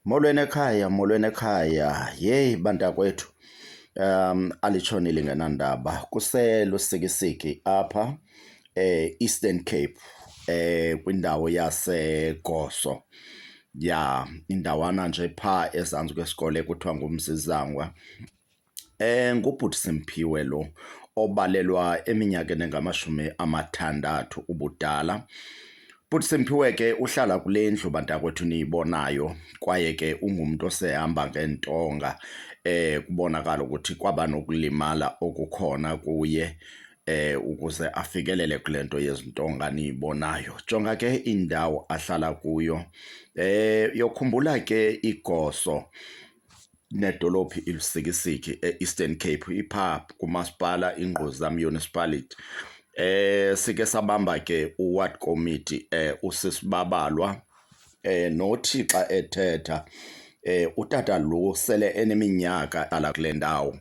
Molweni ekhaya, molweni ekhaya. Yeyi bantakwethu, um alitshoni lingenandaba. Kuselusikisiki apha e-Eastern Cape um kwindawo yaseGoso. Ya, indawana nje phaa ezantsi kwesikole ekuthiwa nguMzizangwa. Eh, ngubhuti Simphiwe lo obalelwa eminyakeni engamashumi amathandathu ubudala. Bhuti Simphiwe ke uhlala kule ndlu bantakwethu niyibonayo kwaye ke ungumntu osehamba ngeentonga eh kubonakala ukuthi kwaba nokulimala okukhona kuye eh ukuze afikelele kule nto yezintonga niyibonayo jonga ke indawo ahlala kuyo eh yokhumbula ke igoso nedolophu iLusikisiki e-Eastern Cape ipha kumasipala iNgquza Municipality eh sike sabamba ke uward committee eh usisibabalwa eh nothi xa ethetha eh utata lo sele eneminyaka ala kule ndawo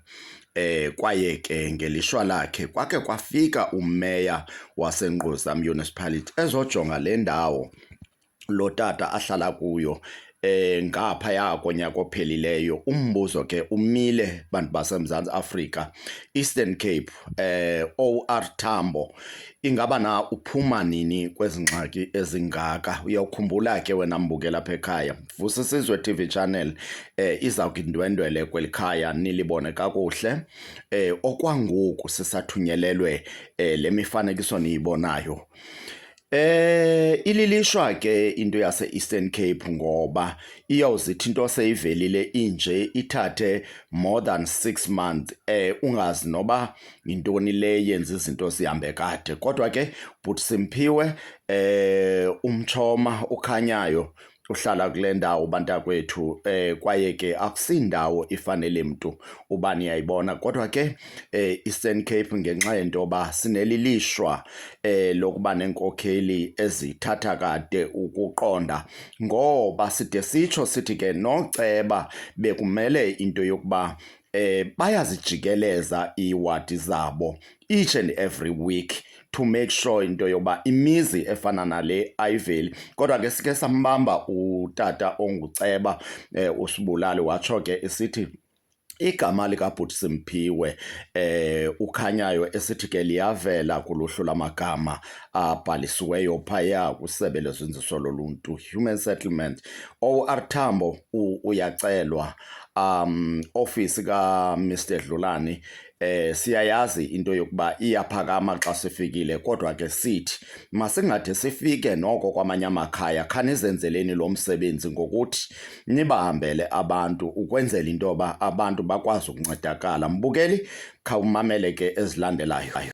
eh kwaye ke ngelishwa lakhe kwake kwafika umeya waseNgquza Municipality ezojonga le ndawo lo tata ahlala kuyo eh ngaphaya konyaka ophelileyo umbuzo ke umile bantu baseMzantsi Afrika Eastern Cape eh OR Tambo ingaba na uphuma nini kwezingxaki ezingaka uyawukhumbula ke wena mbukela apha ekhaya vusa isizwe TV channel eh iza kundwendwele kwelikhaya nilibone kakuhle eh okwangoku sisathunyelelwe eh lemifanekiso niyibonayo Eh ililishwa ke into yase Eastern Cape ngoba iyawuzithi into seyivelile inje ithathe more than 6 months eh ungazi noba intoni le yenza izinto sihambe kade kodwa ke but simphiwe eh umchoma ukhanyayo uhlala kule ndawo bantakwethu eh kwaye ke akusindawo ifanele mntu uba niyayibona kodwa ke eh Eastern Cape ngenxa yento ba sinelilishwa eh lokuba nenkokheli ezithatha kade ukuqonda ngoba side sitsho sithi ke noceba bekumele into yokuba eh bayazijikeleza iiwadi zabo each and every week to make sure into yoba imizi efana nale ayiveli kodwa ke sike sambamba utata onguceba eh, usibulali watsho ke isithi igama likabhuti simphiwe eh ukhanyayo esithi ke liyavela kuluhlu lamagama abhalisiweyo phaya kwisebe lezinziso loluntu human settlement owr thambo uyacelwa um office ka Mr Dlulani eh siyayazi into yokuba iyaphakama xa sifikile kodwa ke sithi masingade sifike noko kwamanye amakhaya khanizenzeleni lo msebenzi ngokuthi nibahambele abantu ukwenzela into yoba abantu bakwazi ukuncedakala mbukeli khawumamele ke ezilandelayo